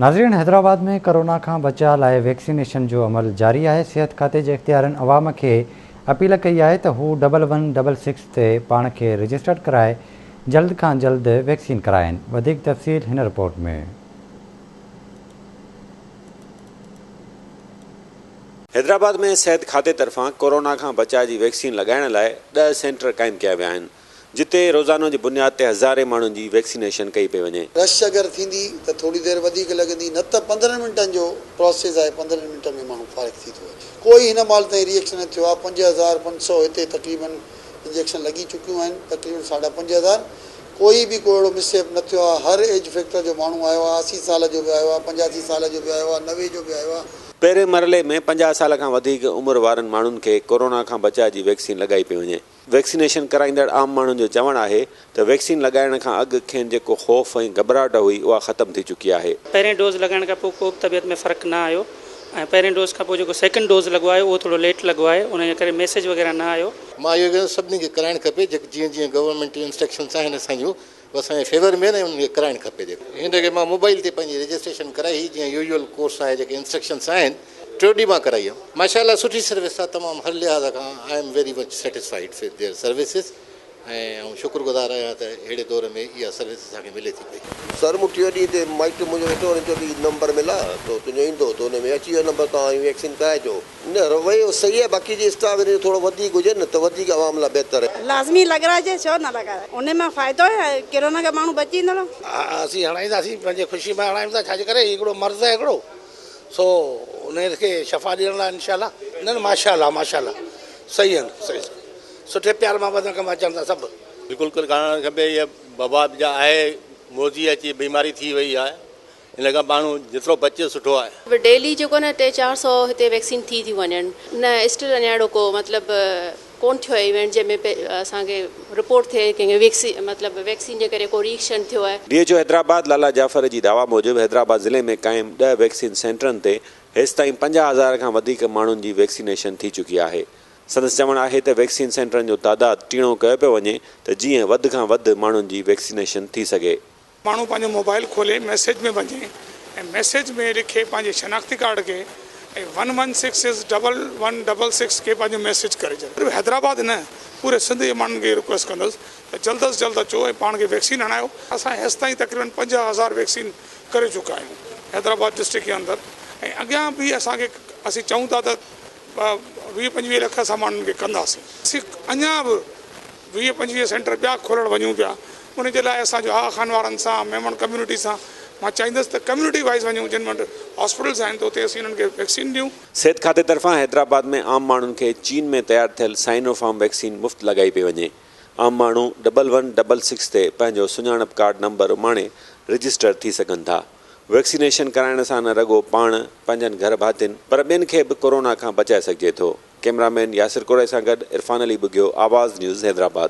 ناظرين حيدرآباد ۾ ڪورونا کان بچاء لاء ويڪسينيشن جو عمل جاري آهي صحت کاتي جي اختيارين عوام کي اپيل ڪئي آهي ته هو ڊبل ون ڊبل سڪس تي پاڻ کي رجسٽرڊ ڪرائي جلد کان جلد ويڪسين ڪرائين وڌيڪ تفصيل هن رپورٽ ۾. حيدرآباد ۾ صحت کاتي طرفان ڪورونا کان بچاء جي ويڪسين لڳائڻ لاء ڏهه سينٽر قائم ڪيا ويا آهن جتي روزانو جي بنياد تي هزارين ماڻهن جي ويڪسينيشن ڪئي پئي وڃي. رش اگر ٿيندي ته ٿوري دير وڌيڪ لڳندي نه ته پندرهن منٽن جو پراسيس آهي پندرهن منٽن ۾ ماڻهو فارغ ٿي ٿو وڃي ڪوئي هن مهل تائين ريئڪشن نه ٿيو آهي پنج هزار پنج سؤ هتي تقريبن انجيڪشن لڳي چڪيون آهن تقريبن ساڍا پنج هزار ڪوئي به ڪو اهڙو مس ايپ نه ٿيو آهي هر ايج فيڪٽر جو ماڻهو آيو آهي اسي سال جو به آيو آهي پنجاسي سال جو به آيو آهي نوي جو به آيو آهي. پهرين مرحلي ۾ پنجاهه سال کان وڌيڪ عمر وارن ماڻهن کي ڪورونا کان بچاء جي ويڪسين لڳائي پئي وڃي ويڪسينيشن ڪرائيندڙ عام ماڻهن جو چوڻ آهي ته ويڪسين لڳائڻ کان اڳ کين جيڪو خوف ۽ گهٻراهٽ هئي اها ختم ٿي چڪي آهي. پهرين ڊوز لڳائڻ کان پوء ڪوبه طبيعت ۾ فرق نه آيو ۽ پهرين ڊوز کان پوء جيڪو سيڪنڊ ڊوز لڳو آهي اهو ٿورو ليٽ لڳو آهي ان جي ڪري ميسيج وغيره نه آيو. مان اهو چوندس سڀني کي ڪرائڻ کپي جيئن جيئن گورنمينٽ جون انسٽرڪشنس آهن اسان جون هو اسان جي فيور ۾ آهن ۽ انهن کي ڪرائڻ کپي جيڪو هن کي مان موبائل تي پنهنجي رجسٽريشن ڪرائي هئي جيئن يوزول ڪورس آهي جيڪي انسٽرڪشنس آهن ٽيو ڏينهن مان ڪرائي هيم ماشاء الله سٺي سروس آهي تمام هر لحاظ کان I am very much satisfied with their services ۽ آئون شڪر گذار آهيان ته اهڙي دور ۾ اها سروس اسان کي ملي ٿي پئي. سر مون ٽيو ڏينهن تي مائٽ منهنجو ويٺو هو هن چيو ته هي نمبر ملا ٿو تنهنجو ايندو ته ان ۾ اچي ويو نمبر توهان هي ويڪسين ڪرائجو. نه رويو صحيح آهي باقي جي اسٽاف هن جو ٿورو وڌيڪ هجي نه ته وڌيڪ عوام لاء بهتر. لازمي لڳرائجي ڇو نه لڳائي انهي مان فائدو آهي ڪرونا کان ماڻهو بچي ويندڙ. ها اسين هڻائينداسين پنهنجي خوشي مان هڻائيون ٿا ڇاجي ڪري هي هڪڙو مرض آهي هڪڙو سو انهي کي شفا ڏيڻ لاء انشاء الله. نه نه ماشاء الله ماشاء الله صحيح آهن صحيح سٺي پيار محبت سان ڪم اچن ٿا سڀ. بلڪل ڪرڻ کپي هي وبا جا آهي موذي اچي بيماري ٿي وئي آهي ان کان ماڻهو جيترو بچي سٺو آهي. ڊيلي جيڪو نه ٽي چار سئو هتي ويڪسين ٿي ٿيون وڃن. نه اسٽل اڃان اهڙو ڪو مطلب ڪون ٿيو آهي ايونٽ جنهن ۾ اسان کي رپورٽ ٿئي ڪنهن کي ويڪسين مطلب ويڪسين جي ڪري ڪو ري ايڪشن ٿيو آهي. D H O Hyderabad Lala Jafar جي دعويٰ موجب حيدرآباد ضلعي ۾ قائم ڏهه ويڪسين سينٽرن تي هيستائين پنجاهه هزار کان وڌيڪ ماڻهن جي ويڪسينيشن ٿي چڪي آهي سندس چوڻ آهي ته ويڪسين سينٽرن جو تعداد ٽيڻو ڪيو پيو وڃي ته جيئن وڌ کان وڌ ماڻهن جي ويڪسينيشن ٿي سگهي ماڻهو پنهنجو موبائيل کولي ميسيج ۾ وڃي ۽ ميسيج ۾ لکي پنهنجي شناختي ڪارڊ کي ۽ one one six six double one double six کي پنهنجو ميسيج ڪري ڇڏي. صرف حيدرآباد نه پوري سنڌ جي ماڻهن کي رڪويسٽ ڪندس ته جلد از جلد اچو ۽ پاڻ کي ويڪسين هڻايو. اسان هيستائين تقريبن پنجاهه هزار ويڪسين ڪري چڪا آهيون حيدرآباد ڊسٽرڪٽ جي اندر ۽ اڳيان به اسان کي اسين چئون ٿا ته ويهه پنجويهه لک اسان ماڻهن کي ڪنداسين. اسين اڃان به ويهه پنجويهه سينٽر ٻيا کولڻ وڃون پيا ان جي لاء اسان جو آغا خان وارن سان ميمڻ ڪميونٽي سان مان چاهيندس ته ڪميونٽي وائيز وڃون جن وٽ هاسپيٽلز آهن ته اتي اسين انهن کي ويڪسين ڏيون. صحت کاتي طرفان حيدرآباد ۾ عام ماڻهن کي چين ۾ تيار ٿيل سائنو فارم ويڪسين مفت لڳائي پئي وڃي عام ماڻهو ڊبل ون ڊبل سڪس تي پنهنجو سڃاڻپ ڪارڊ نمبر اماڻي رجسٽر ٿي سگهن ٿا. ويڪسينيشن ڪرائڻ سان نه رڳو پاڻ، پنهنجن گهر ڀاتين پر ٻين کي به ڪورونا کان بچائي سگهجي ٿو. ڪيمرا مين ياسر ڪوڙي سان گڏ عرفان علي ٻگهيو، آواز نيوز حيدرآباد.